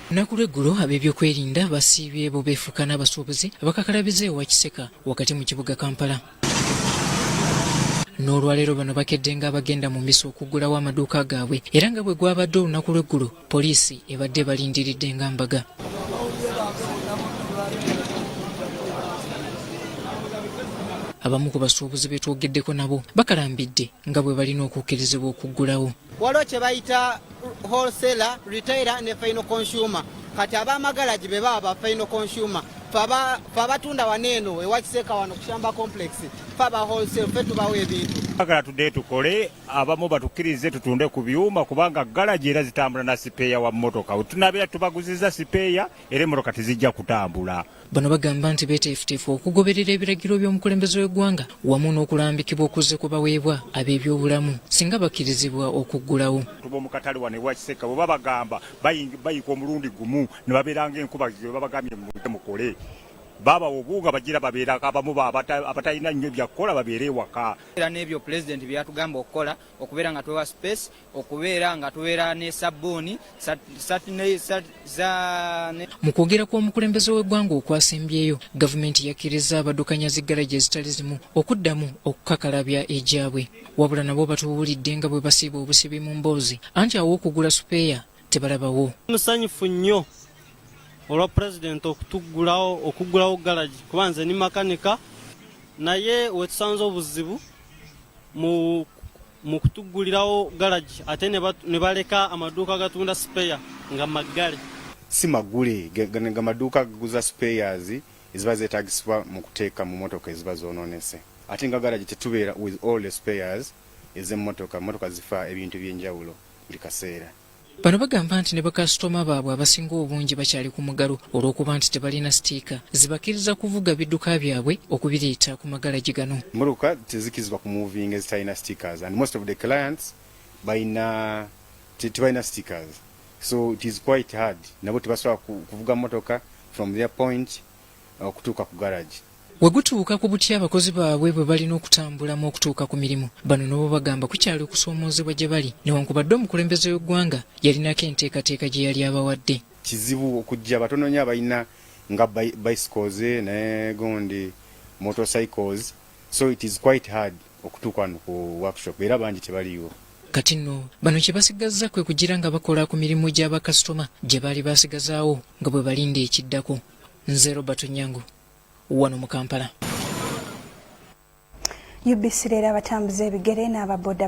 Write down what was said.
Lunaku lw'eggulo ab'ebyokwerinda basiibye bo beefuuka n'abasuubuzi abakakalabiza ewa Kiseka wakati mu kibuga Kampala. N'olwaleero bano bakedde nga abagenda mu misa okuggulawo amaduuka gaabwe era nga bwe gwabadde olunaku lw'eggulo poliisi ebadde balindiridde nga mbaga. abamu ku basuubuzi be twogeddeko nabo bakalambidde nga bwe balina okukkirizibwa okuggulawo. wholesaler retailer ne final consumer kati abamagalagi be baba ba final consumer fe abatunda wano eno ewakiseeka wano kushamba complex fe aba wholesale fe tubawo ebintu agala tudde tukole abamu batukkirize tutunde ku byuma kubanga galagi era zitambula na sipeeya wa mmotoka wetunabeera tubaguziza sipeeya era emmotoka tezijja kutambula Bano bagamba nti beteefuteefu okugoberera ebiragiro by'omukulembeze w'eggwanga wamu n'okulambikibwa okuzze ku baweebwa ab'ebyobulamu singa bakkirizibwa okuggulawo. Abantu b'omu katale wano ewa Kisekka bwe babagamba bayika omulundi gumu ne babeera ng'enkuba gye babagambye mujje mukole babawa obuwunga bagira babeera abamu abatalina nnyo byakukola babeere ewaka. Era n'ebyo pulezidenti bye yatugamba okukola okubeera nga twewa space okubeera nga tubeera ne sabbuuni mu kwogera kw'omukulembeze w'eggwanga okwasembyeyo gavumenti yakkirizza abadukanya zi garaji ezitali zimu okuddamu okukakalabya egyabwe wabula nabo batubuulidde nga bwe basiiba obusibi mu mboozi anti aw'okugula supeeya tebalabawo. Musanyufu nnyo olwa pulezidenti okutuggulawo okuggulawo galagi kuba nze ni makanika naye wetusanze obuzibu mu mu kutuggulirawo galagi ate ne baleka amaduuka gatunda sipeya nga maggale si maggule nga maduuka gaguza sipeyas eziba zeetagisibwa mu kuteeka mu motoka eziba zoononese ate nga galagi tetubeera with all the sipeyas ez'emmotoka mmotoka zifa ebintu eby'enjawulo buli kaseera. Bano bagamba nti ne bakasitoma baabwe abasinga obungi bakyali ku mugalo olw'okuba nti tebalina sitiika zibakkiriza kuvuga bidduka byabwe okubireeta ku magalagi gano. Emmotoka tezikkirizibwa ku muvinga ezitalina stickers and most of the clients balina tebalina stickers so it is quite hard nabo tebasobola kuvuga mmotoka from their point okutuuka ku garagi. We gutuuka ku butya abakozi baabwe bwe balina okutambulamu okutuuka ku mirimu bano nabo bagamba kukyali okusoomoozebwa gye bali newankubadde omukulembeze w'eggwanga yalinako enteekateeka gye yali abawadde kizibu okujja batono nyo abalina nga bicycles ne gundi motorcycles so it is quite hard okutuuka wano ku workshop era bangi tebaliiwo kati nno bano kye basigazza kwe kugira nga bakola ku mirimu gya bakasitoma gye baali baasigazaawo nga bwe balinda ekiddako nze robert onyango wano mu kampala ubc leero abatambuza ebigere n'ababoda